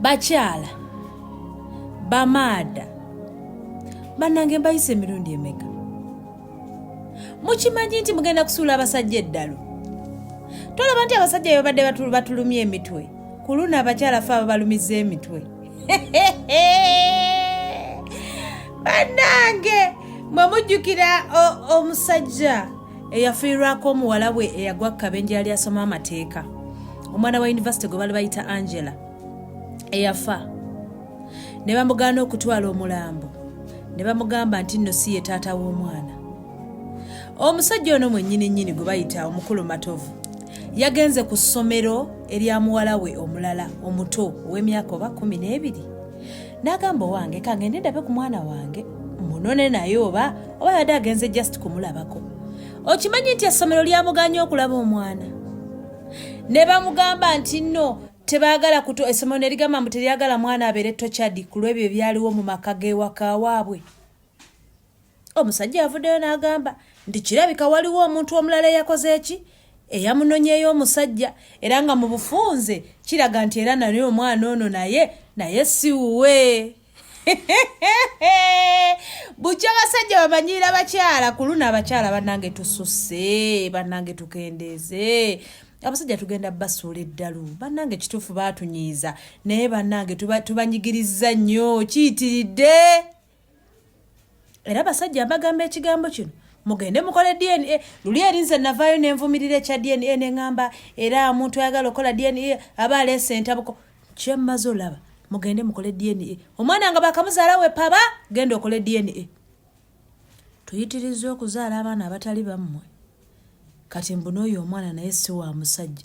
bakyala bamaada bannange mbayisa emirundi emeka mukimanyi nti mugenda kusuula abasajja eddalu tolaba nti abasajja bebabadde batulumya emitwe ku luno abakyala fe ababalumiza emitwe bannange mwe mujjukira omusajja eyafiirwako omuwala we eyagwa kukabenje yali asoma amateeka omwana wa yunivasite gwe bali bayita angela eyafa ne bamugaana okutwala omulambo ne bamugamba nti nno si ye taata w'omwana omusajja ono mwennyini nnyini gwe bayita omukulu matovu yagenze ku ssomero erya muwala we omulala omuto ow'emyaka oba kumi n'ebiri n'agamba owange kangende ndabe ku mwana wange munone naye oba oba yadde agenze just kumulabako okimanyi nti essomero lyamuganye okulaba omwana ne bamugamba nti nno tebaagala kuto essomero ne ligamba mbu teryagala mwana abeere tochadi ku lw'ebyo ebyaliwo mu maka g'ewaka waabwe omusajja avuddeyo n'agamba nti kirabika waliwo omuntu omulala eyakoze eki eyamunonyeyo omusajja era nga mu bufunze kiraga nti era naye omwana ono naye naye siwuwe bukya abasajja bamanyiira abakyala ku luno abakyala banange tususe banange tukendeeze abasajja tugenda basuula eddalu bannange kituufu baatunyiiza naye bannange tubanyigiriza nnyo kiyitiridde era basajja mbagamba ekigambo kino mugende mukole dna luli erinze navaayo nenvumirira ekya dna neŋamba era omuntu ayagala okola dna aba aleesa entabuko kyemmaze olaba mugende mukole dna omwana nga bakamuzaala wepaba genda okole dna tuyitirizza okuzaala abaana abatali bammwe kati mbunaoyo omwana naye si wa musajja